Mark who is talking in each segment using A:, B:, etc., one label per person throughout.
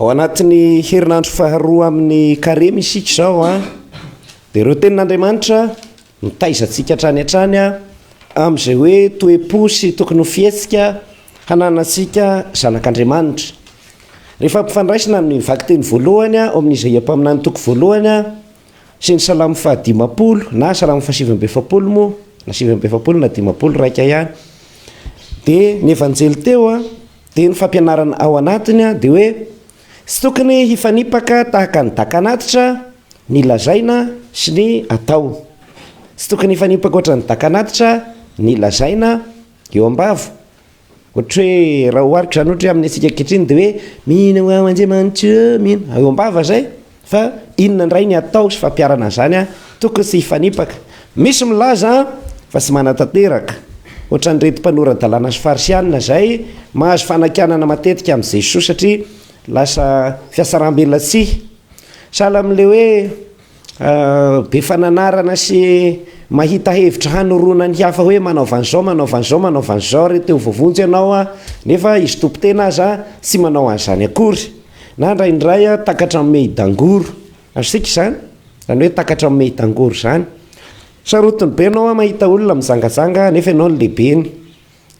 A: Ao anatin'ny herinandro faharoa amin'ny Karemy isika izao an! Dia ireo tenin'Andriamanitra mitaiza antsika hatrany hatrany amin'izay hoe toe-po sy tokony ho fihetsika hananantsika zanak'Andriamanitra. Rehefa ampifandraisina amin'ny vakiteny voalohany ao amin'ny Izaia mpaminany toko voalohany sy ny Salamo fahadimampolo na Salamo fahasivy amby efapolo moa na sivy amby efapolo na dimampolo iraika ihany dia ny Evanjely teo an! Dia ny fampianarana ao anatiny dia hoe tsy tokony hifanipaka tahaka ny daka anatitra ny lazaina sy ny atao. Tsy tokony hifanipaka ohatran'ny daka anatitra ny lazaina eo am-bava. Ohatra hoe raha ohariko izany ohatra hoe amin'ny antsika ankehitriny dia hoe mino ao Andriamanitra ô, mino, eo am-bava izay. Fa inona indray ny atao sy fampiharana an'izany an? Tokony tsy hifanipaka. Misy milaza fa tsy manatanteraka, ohatran'ireto mpanora-dalàna sy Farisianina izay mahazo fanakianana matetika amin'i Jesoa satria lasa fihatsarambelatsihy. Sahala amin'ilay hoe be fananarana sy mahita hevitra hanoroana ny hafa hoe manaova an'izao, manaova an'izao, manaova an'izao re, te ho voavonjy ianao an! Nefa izy tompon-tena aza tsy manao an'izany akory. Na indraindray aho takatra amin'ny mehidangoro, azontsika izany? Izany hoe takatra amin'ny mehidangoro izany. Sarotiny be ianao mahita olona mizangazanga nefa ianao no lehibeny.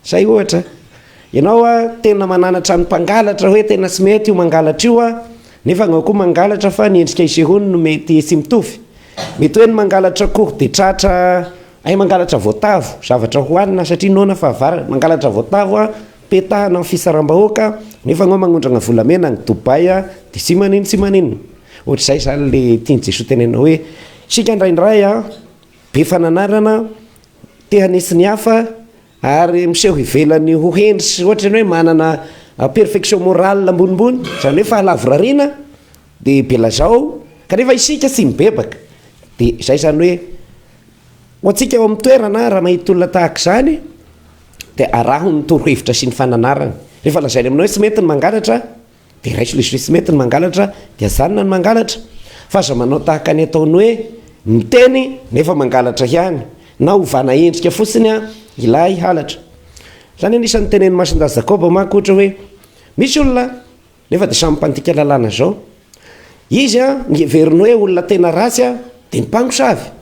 A: Izay ohatra. Ianao tena mananatra ny mpangalatra hoe tena tsy mety io mangalatra io aho, nefa ianao koa mangalatra fa ny endrika isehoany no mety tsy mitovy. Mety hoe ny mangalatra akoho dia tratra, hay mangalatra voatavo, zavatra hohanina satria noana fahavalo, mangalatra voatavo aho. Petahana ny fisarambahoaka nefa anao magnondrana volamena any Dubai a de tsy manin tsy manin. Ohatr'izay zany le tian'i Jesoa teneninao hoe isika indraindray a be fananarana, te hanesy ny hafa ary miseho ivelany ho hendry sy ohatra ny hoe manana perfection morale ambonimbony zany hoe fahalavorariana de belazao kanefa isika tsy mibebaka de zay zany hoe ho antsika ao amin'ny toerana raha mahita olona tahaka izany dia araho ny torohevitra sy ny fananarany. Rehefa lazainy aminao hoe tsy mety ny mangalatra, dia raiso lesy hoe tsy mety ny mangalatra, dia ajanona ny mangalatra, fa aza manao tahaka ny ataony hoe miteny nefa mangalatra ihany, na ovana endrika fotsiny ilay halatra. Izany anisan'ny tenenin'ny Masindahy Jakoba manko ohatra hoe, misy olona nefa dia samy mpandika lalàna izao, izy a, ny heveriny hoe olona tena ratsy a, dia ny mpangosavy,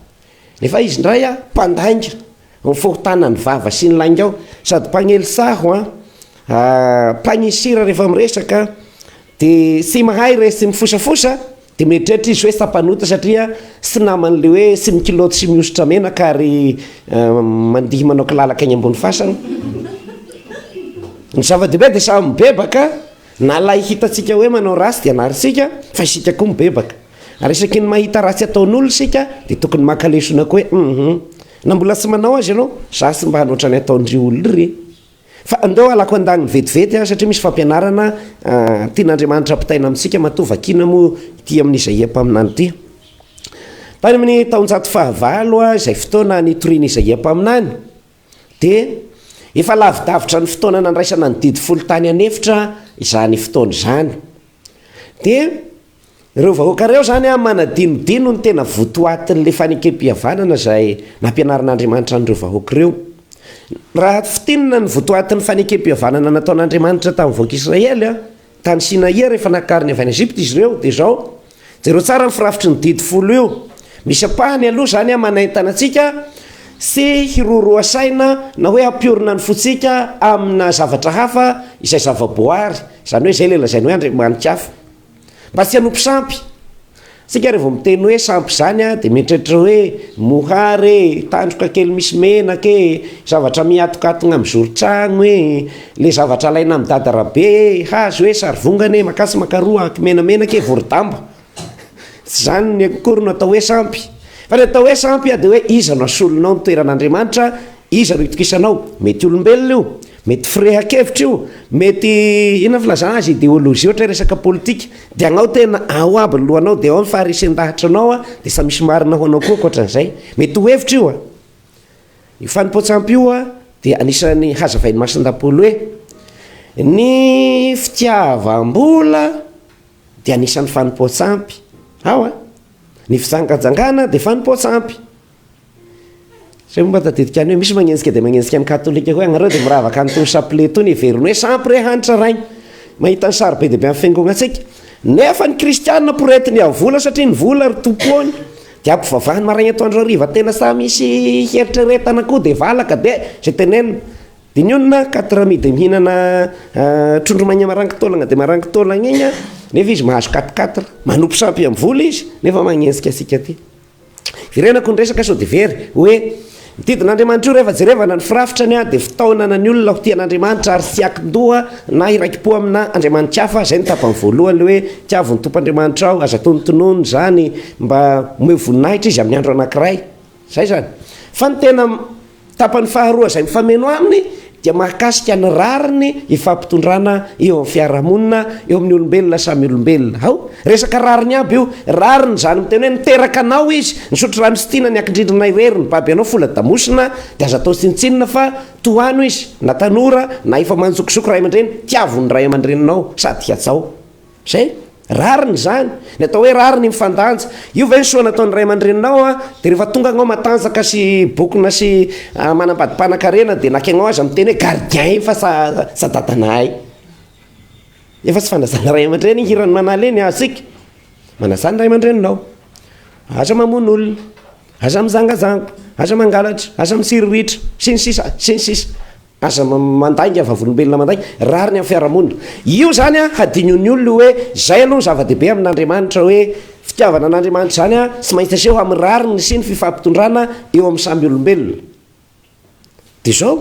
A: nefa izy indray a, mpandainga. Ho fohotana ny vava sy ny lainga ao sady mpagnely saho an! Mpagnisira rehefa miresaka de tsy mahay re sy mifosafosa de mieritreritra izy hoe sampanota satria tsy naman'le hoe tsy mikilaoty sy mihosotra menaka ary mandihy manao kilalaka eny ambony fasana. Ny zava-dehibe de samy mibebaka na lay hitantsika hoe manao ratsy de anarintsika fa isika koa mibebaka. Ary isaky ny mahita ratsy ataon'olona isika dia tokony maka lesona koa hoe hum na mbola tsy manao azy ianao, za tsy mba hanao otrany ataon'ireo olona ireny. Fa ndao halako an-daniny vetivety aho satria misy fampianarana tian'Andriamanitra ampitaina amintsika matoa vakiana moa ity amin'izaia mpaminany ity. Tany amin'ny taonjato fahavalo izay fotoana nitorian'izaia mpaminany, Dia efa lavidavitra ny fotoana nandraisana ny didy folo tany an'efitra izany fotoana izany. Dia ireo vahoaka ireo izany an, manadinodino ny tena votoatin'ilay fanekempihavanana izay nampianarin'Andriamanitra an'ireo vahoaka ireo. Raha fintinina ny votoatin'ny fanekempihavanana nataon'Andriamanitra tamin'ny vahoaka Israely an, Tany Sinaia rehefa nakariny avy any Egypta izy ireo, dia izao, jereo tsara ny firafitry ny didy folo io, misy ampahany aloha izany manaintana antsika tsy hiroroha saina na hoe hampiorina ny fontsika amina zavatra hafa izay zava-boary, izany hoe izay ilay lazainy hoe andriamani-kafa, mba tsy hanompo sampy. Isika revo miteny hoe sampy izany dia mieritreritra hoe mohary e, tandroka kely misy menaka e, zavatra mihatokatogna amin'ny zoron-tragno e, le zavatra alaina amin'ny dada Rabe e, hazo e, sarivongana e, makà sy makaroa, aky menamenaka e, vorodamba. Tsy izany akory no atao hoe sampy. Fa ny atao hoe sampy dia hoe iza no asolonao ny toeran'Andriamanitra, iza no itokisanao, mety olombelona io, Mety firehan-kevitra io, mety inona filazana azy, ideologie ohatra hoe resaka politika, dia agnao tena ao aby ny lohanao, dia ao ny faharesen-dahatra anao an, dia samy misy marina ho anao koa ankoatran'izay, mety ho hevitra io an, io fanompoan-tsampy io an dia anisan'ny hazavain'i Masindapolo hoe, ny fitiavam-bola dia anisan'ny fanompoan-tsampy, ao an, ny fijangajangana dia fanompoan-tsampy. Zay moa mba tadidiko any hoe misy magnenjika dia magnenjika ny katolika hoe agnareo dia miravaka an'itony chapelet itony heveriny hoe sampy re hanitra rainy mahita ny sary be dia be amin'ny fiangonantsika nefa ny kristianina poretiny amin'ny vola satria ny vola ry tompony dia ampivavahany maraina atoandro hariva tena sa misy hieritreretana koa dia valaka dia zay tenenina dinionina quatre amis dia mihinana trondro maigna marango taolagna dia marango taolagna igny nefa izy mahazo quatre quatre manompo sampy amin'ny vola izy nefa magnenjika antsika aty Irenako ny resaka sao dia very. Hoe, Ny didin'Andriamanitra io rehefa jerevana ny firafitrany dia fitaonana ny olona ho tia an'Andriamanitra ary tsy hiankin-doha na hiraiki-po amina andriamanitra hafa, izay no tapany voalohany, ilay hoe, Tiavo ny Tompoandriamanitrao, aza tonontonona izany, mba omeo voninahitra Izy amin'ny andro anankiray. Izay izany. Fa ny tena. Tapany faharoa izay mifameno aminy dia mahakasika ny rariny ifampitondrana eo amin'ny fiarahamonina eo amin'ny olombelona samy olombelona. Hao, resaka rariny aby io. Rariny izany miteny hoe niteraka anao izy, nisotro rano sy tiana ny ankindrindrina irery ny baby anao fola-damosina dia aza atao tsinontsinona fa tohano izy na tanora na efa manjokizoko ray aman-dreny, tiavo ny ray aman-dreninao sady hihatsao. Zay? Rariny izany. Ny atao hoe rariny mifandanja. Io ve ny soa nataon'ny ray aman-dreninao an? Dia rehefa tonga anao matanjaka sy bokona sy manambady mpanakarena dia nakianao aza miteny hoe gardien efa sa sa dadanahy. Efa tsy fanazana ray aman-dreny iny hiran'i manala iny asika. Manazà ny ray aman-dreninao. Aza mamono olona, aza mizangazanga, aza mangalatra, aza misiriritra sy ny sisa sy ny sisa. Aza mandainga vavolombelona mandainga, rariny amin'ny fiarahamonina. Io izany an, hadinon'ny olona io hoe, izay aloha no zava-dehibe amin'Andriamanitra hoe, fitiavana an'Andriamanitra izany an, tsy maintsy aseho amin'ny rariny sy ny fifampitondrana eo amin'ny samy olombelona. Dia izao,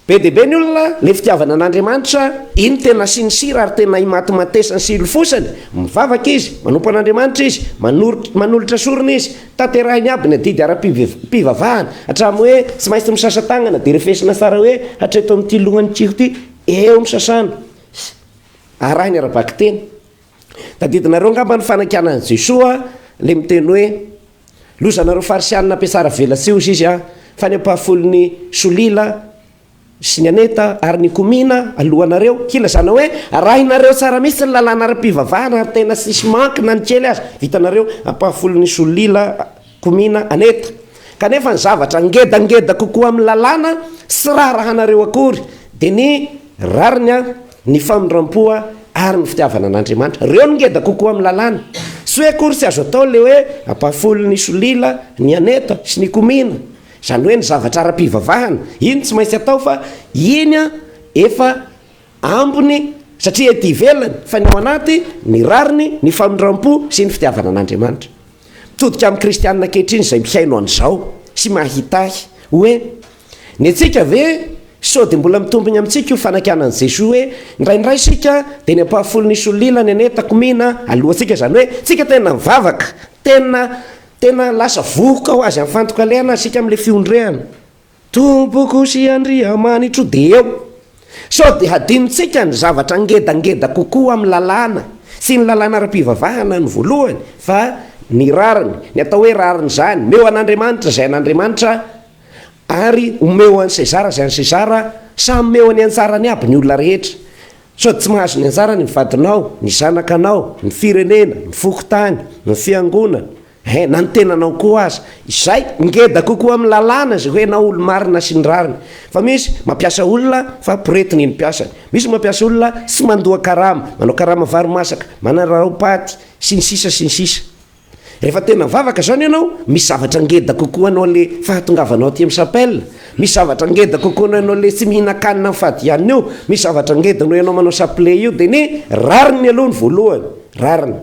A: be dia be ny olona, ilay fitiavana an'Andriamanitra, iny tena sincere ary tena imatimatesany sy ilofosany, mivavaka izy, manompo an'Andriamanitra izy, manolotra sorona izy, Tanterahiny aby ny adidy ara-pivavahana, hatramin'ny hoe tsy maintsy misasa-tanana, dia refesina tsara hoe hatreto amin'ity lohan'ny kiho ity, eo ny sasana, arahiny ara-bakiteny. Tadidinareo angamba ny fanakianan'i Jesoa ilay miteny hoe, Lozanareo Farisianina mpiasaravelatsihy, hoy Izy an, fa ny ampahafolony solila, sy ny Aneta ary ny Komina alohanareo, hilazana hoe arahinareo tsara mihitsy ny lalàna ara-pivavahana ary tena tsisy manque na ny kely aza, vitanareo ampahafolo ny Solila, Komina, Aneta. Kanefa ny zavatra ngedangeda kokoa amin'ny lalàna tsy raharahanareo akory dia ny rariny, ny famindrampo ary ny fitiavana an'Andriamanitra. Ireo no ngeda kokoa amin'ny lalàna. Tsy hoe akory tsy azo atao ilay hoe ampahafolo ny Solila, ny Aneta sy ny Komina Izany hoe ny zavatra ara-pivavahana, iny tsy maintsy atao fa iny efa ambiny satria ety ivelany, fa ny ao anaty, ny rariny, ny famindram-po sy ny fitiavana an'Andriamanitra. Mitodika amin'ny kristiana ankehitriny izay mihaino an'izao sy mahitahy hoe ny antsika ve sao dia mbola mitombigna amintsika io fanakianan'i Jesoa hoe indraindray isika dia ny ampahafolon'ny solila ny an'e takomina alohantsika, izany hoe tsika tena mivavaka, tena Tena lasa vohoka ho azy anfantoka liana isika amin'ilay fiondrehana Tompoko sy Andriamanitro dia eo sao dia hadinontsika ny zavatra ngedangeda kokoa amin'ny lalàna sy ny lalàna ara-pivavahana ny voalohany fa ny rariny, ny atao hoe rariny izany, meo an'Andriamanitra izay an'Andriamanitra ary omeo an'i Sezara izay an'i Sezara, samy meo any anjarany aby ny olona rehetra, Sao tsy mahazo ny anjarany ny vadinao, ny zanakanao, ny firenena, ny fokontany, ny fiangonana, eh, na ny tenanao koa aza. Izay, ngeda kokoa amin'ny lalàna izay hoe ianao olo-marina sy ny rariny. Fa misy mampiasa olona fa poretina iny mpiasany. Misy mampiasa olona tsy mandoa karama, manao karama vary masaka, manararaopaty, sy ny sisa sy ny sisa. Rehefa tena vavaka zany ianao, misy zavatra ngeda kokoa anao le fahatongavanao aty am chapelle, misy zavatra ngeda kokoa noho ianao le tsy mihinan-kanina am fadihanina io, misy zavatra ngeda noho ianao manao chapelet io, de ne rariny aloha ny voalohany, rariny,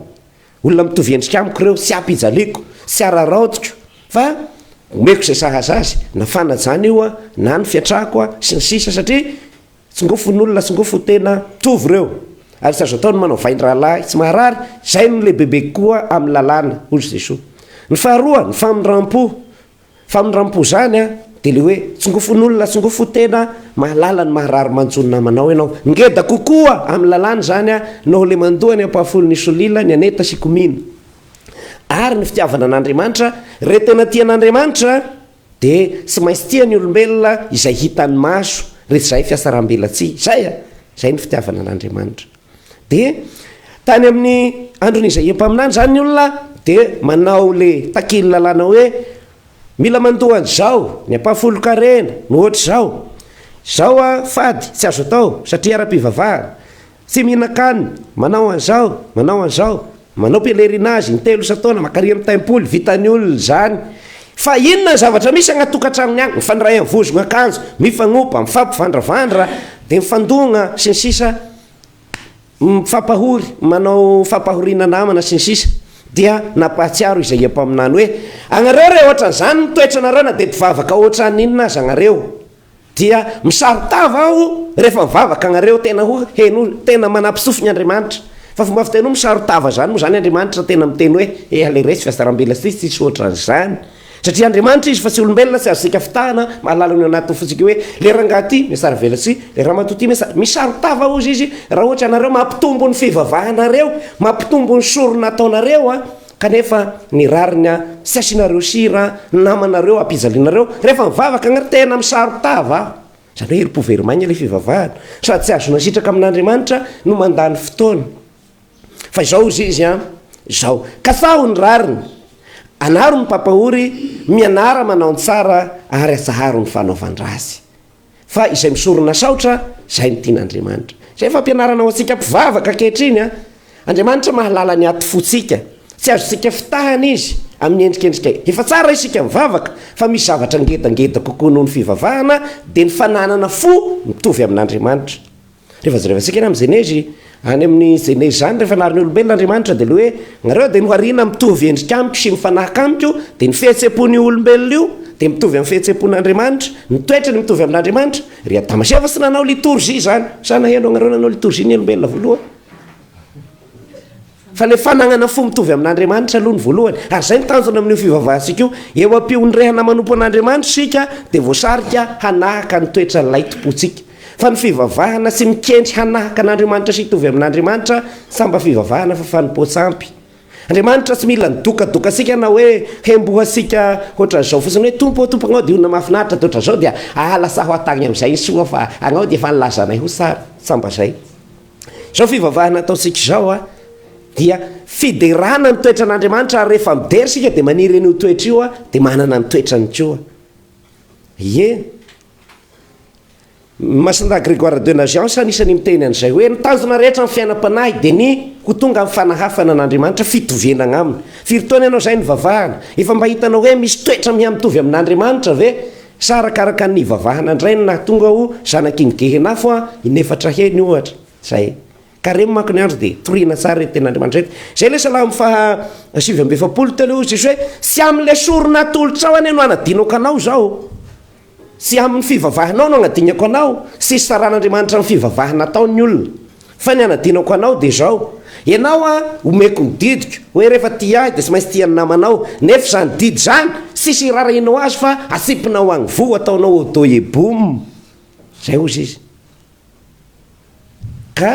A: olona mitovy endrika amiko reo, tsy apijaliako, tsy araraotiko, fa omeko ze sahaza azy, na fanajana io an, na ny fiatrako an, sy ny sisa satria, Tsingofon'olona, tsingofo tena mitovy ireo. Ary tsy azo atao ny manao vain-drahalahy tsy maharary, izay no lehibebe kokoa amin'ny lalàna, hoy Jesoa. Ny faharoa, ny famindram-po. Famindram-po izany dia ilay hoe, tsingofon'olona, tsingofo tena mahalala ny maharary manjo ny namanao ianao. Ngeda kokoa amin'ny lalàna izany noho ilay mandoa ny ampahafolon'i Solila, ny Aneta sy Komina. Ary ny fitiavana an'Andriamanitra, Re tena tia an'Andriamanitra, Dia tsy maintsy tia ny olombelona izay hitan'ny maso, rehefa izay fiasaram-belatsihy. Izay a! Izay ny fitiavana an'Andriamanitra. Dia tany amin'ny andron'i Izaia mpaminany izany ny olona dia manao ilay takin'ny lalàna hoe, mila mandoa an'izao, ny ampahafolon-karena, ny hoatr'izao. Izao a, fady, tsy azo atao, satria ara-pivavahana. Tsy mihinan-kanina, manao an'izao, manao an'izao, manao pèlerinage in-telo isan-taona, maka rihana tempoly, vitan'ny olona izany. Fa inona ny zavatra misy agnaty tokantranony agny? Mifandray amin'ny vozogna akanjo, mifagnopa, mifampivandravandra, dia mifandogna, sy ny sisa, mifampahory, manao fampahoriana namana, sy ny sisa. Dia nampahatsiaro Izaia mpaminany hoe, Agnareo re, hoatran'izany ny toetranareo na dia mpivavaka hoatran'inona aza agnareo. Dia misaro-tava aho rehefa mivavaka agnareo, tena ho heno hoe tena manampy sofigny Andriamanitra. Fa fomba fiteny hoe misaro-tava zany moa zany Andriamanitra tena miteny hoe eha le resy fa sarambela sisa tsisy ohatran'izany. Satria Andriamanitra izy fa tsy olombelona tsy azontsika fitahana, mahalala ny ao anatin'ny fontsika hoe le rangahy ty miasarvela sy le ramatoa ty miasa, misaro-tava hozy izy raha ohatra ianareo mampitombo ny fivavahanareo, mampitombo ny sorona ataonareo an, Kanefa ny rariny a! Tsy asianareo sira namanareo ampijalianareo rehefa mivavaka agnary tena misaro-tava a! Izany hoe herim-po very maigna ilay fivavahana sady tsy ahazoana sitraka amin'Andriamanitra no mandany fotoana. Fa izao hozy izy a, izao, kasaho ny rariny, anaro ny papahory, mianara manao ny tsara ary atsaharo ny fanaovan-dratsy. fa izay misorona saotra zay no tian'Andriamanitra. Zay fampianarana ho antsika mpivavaka ankehitriny an! Andriamanitra mahalala ny atifotsika, tsy azontsika fitahana Izy amin'ny endrikendrika efa tsara isika mivavaka, fa misy zavatra ngedangeda kokoa noho ny fivavahana dia ny fananana fo mitovy amin'Andriamanitra. Rehefa jerevantsika eny amin'ny Genezy, any amin'ny Genezy izany, rehefa nahary ny olombelona Andriamanitra, dia ilay hoe, nareo dia nohariana mitovy endrika amiko sy mifanahaka amiko, dia ny fihetseham-pon'io olombelona io dia mitovy amin'ny fihetseham-pon'Andriamanitra, ny toetrany mitovy amin'Andriamanitra. Ry Adama sy Eva tsy nanao litorjia izany. Sa naheno anareo nanao litorjia ny olombelona voalohany? Fa le fananana fo mitovy amin'Andriamanitra aloha no voalohany, ary zay no tanjona amin'io fivavahantsika io. Eo am-pihonirehana manompo an'Andriamanitra isika dia voasarika hanahaka ny toetran'Ilay Tompontsika. Fa ny fivavahana sy mikendry hanahaka an'Andriamanitra sy hitovy amin'Andriamanitra sa mba fivavahana fa fanompoan-tsampy? Andriamanitra tsy mila ny dokadokantsika na hoe hembohantsika ohatran'izao fotsiny hoe Tompo ô, Tompo agnao dia olona mahafinaritra dia ohatran'izao dia aa lasaho aho tagny amin'izay ny soa fa agnao dia efa nilaza anay ho tsara. Sa mba zay? Izao fivavahana ataontsika izao a, dia fiderana ny toetran'Andriamanitra ary rehefa midera isika dia maniry an'io toetra io a, dia manana ny toetrany koa. Ie. Ny Masindahy Grégoire de Naziance anisany miteny an'izay hoe ny tanjona rehetra amin'ny fiainam-panahy dia ny ho tonga amin'ny fanahafana an'Andriamanitra, fitovianagna aminy. Firy taona ianao izay nivavahana? Efa mba hitanao hoe misy toetra miha-mitovy amin'Andriamanitra ve? Sa arakaraka ny nivavahana ndray no nahatonga ho zanak'iny gehenafo an, in'efatra heny ohatra zay. Careme manko ny andro dia toriana tsara ireto tenin'Andriamanitra ireto. Zay le salamo faha sivy amby efapolo teo le hoy Jesoa hoe, tsy amin'le sorona atolotrao anie no hanadinako anao zao, tsy amin'ny fivavahanao no agnadinako anao, tsy isaran'Andriamanitra ny fivavahana ataon'ny olona. Fa ny anadinako anao dia izao, ianao an, omeko ny didiko, hoe rehefa tia ahy dia tsy maintsy tia ny namanao, nefa izany didy izany tsisy irarahianao azy fa atsipinao agny voa ataonao odoye boum, izay ozy izy, ka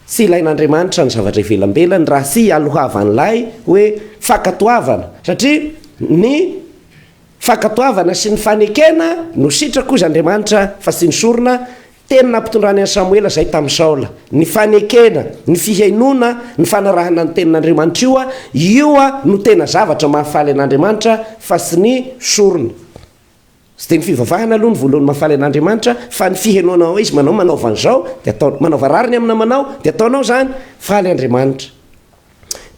A: tsy ilain'Andriamanitra ny zavatra ivelambelany raha tsy ialohavan'ilay hoe fankatoavana, satria ny fankatoavana sy ny fanekena no sitrako ozy Andriamanitra fa tsy ny sorona, Teny nampitondrany an'i Samoela izay tamin'i Saola, ny fanekena, ny fihainoana, ny fanarahana ny Tenin'Andriamanitra io, io no tena zavatra mahafaly an'Andriamanitra fa tsy ny sorona. Tsy dia ny fivavahana aloha no voalohany mahafaly an'Andriamanitra fa ny fihainoana ao Izy, manao manaova an'izao dia ataonao, manaova rariny amin'ny namanao dia ataonao izany, faly Andriamanitra.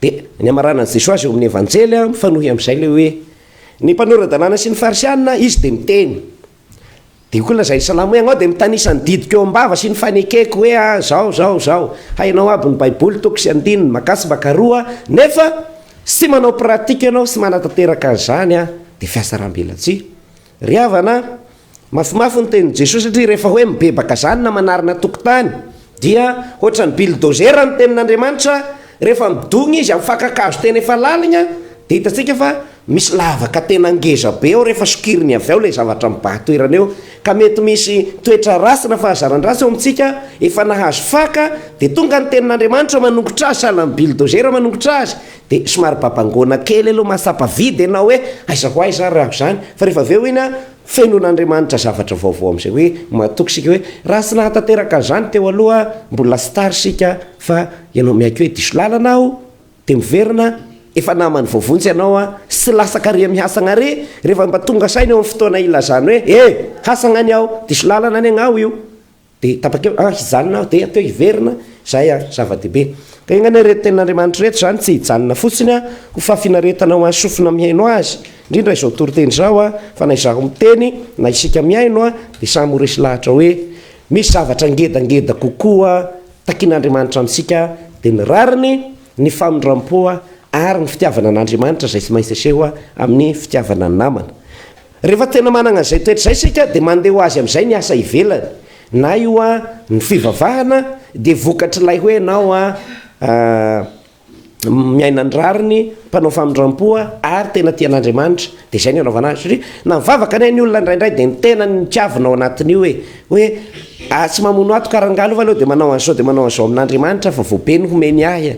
A: Dia ny hamaranan'i Jesoa azy eo amin'ny Evanjely mifanohy amin'izay ilay hoe, ny mpanora-dalàna sy ny Farisianina, Izy dia miteny. Dia koa ilay Islamo hoe ianao dia mitanisa ny didiko eo am-bava sy ny fanekeko hoe a zao zao zao, hainao aby ny baiboly toko sy andininy maka sy maka roa nefa tsy manao pratique ianao sy manatanteraka an'izany a, dia fihasaram-belatsihy. Ry havana a, mafimafy ny tenin'i Jesoa satria rehefa hoe mibebaka izany na manarina tokotany dia ohatran'ny billdozera ny tenin'Andriamanitra, rehefa midogna izy amin'ny fakan-kazo tena efa laligna dia hitantsika fa Misy lavaka tena ngeza be ao rehefa sokirin'ny avy ao ilay zavatra mibaha toerana eo ka mety misy toetra ratsy na fahazaran-dratsy ao amintsika efa nahazo faka dia tonga ny tenin'Andriamanitra manongotra azy sahala amin'ny bildozera manongotra azy dia somary babangoana kely aloha mahatsapa vide ianao hoe aiza ho aiza ary aho izany fa rehefa avy eo iny an fenon'Andriamanitra zavatra vaovao amin'izay hoe mahatoky isika hoe raha tsy nahatanteraka an'izany teo aloha mbola tsy tara isika fa ianao miaiky hoe diso lalana aho Dia miverina efa namany voavonjy ianao sy lasa kare mihasagna re rehefa mba tonga saina eo amin'ny fotoana ilazany hoe eh! hasagna ny ao, diso lalana ny agn'aho io. Dia tapak'eo an hijanona aho dia teo hiverina, izay an zava-dehibe. Ka enga ireto tenin'Andriamanitra ireto izany tsy hijanona fotsiny an ho fahafinaretana ho an'ny sofina mihaino Azy, indrindra izao toriteny izao an, fa na izaho miteny na isika mihaino an dia samy ho resy lahatra hoe misy zavatra ngedangeda kokoa Takin'Andriamanitra amintsika dia ny rariny, ny famindram-po ary ny fitiavana an'Andriamanitra izay tsy maintsy aseho amin'ny fitiavana ny namana. Rehefa tena manana izay toetra izay isika dia mandeha ho azy amin'izay ny asa ivelany, na io ny fivavahana dia vokatr'ilay hoe ianao miaina ny rariny, mpanao famindram-po ary tena tia an'Andriamanitra, dia izay no anaovana azy, satria na mivavaka anie ny olona indraindray dia ny tenany no tiavina ao anatin'io e, hoe ah tsy mamono ato ka rangahy aloha aleo dia manao an'izao dia manao an'izao amin'Andriamanitra fa vao be ny homeny ahy e,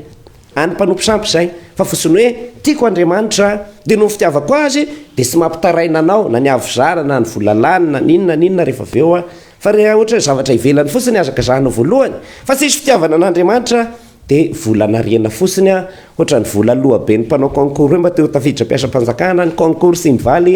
A: any mpanompo sampy izay, fa fotsiny hoe tiako Andriamanitra dia noho ny fitiavako azy dia tsy mampitaraina anao na ny havizara na ny vola lany na ny inona na inona rehefa avy eo aho, fa raha ohatra hoe zavatra ivelany fotsiny azaka zahina voalohany, fa tsisy fitiavana an'Andriamanitra Dia vola anariana fosiny a! Hoatran'ny vola lohaben'ny mpanao concours hoe mba te ho tafiditra mpiasam-panjakana ny concours Simvaly.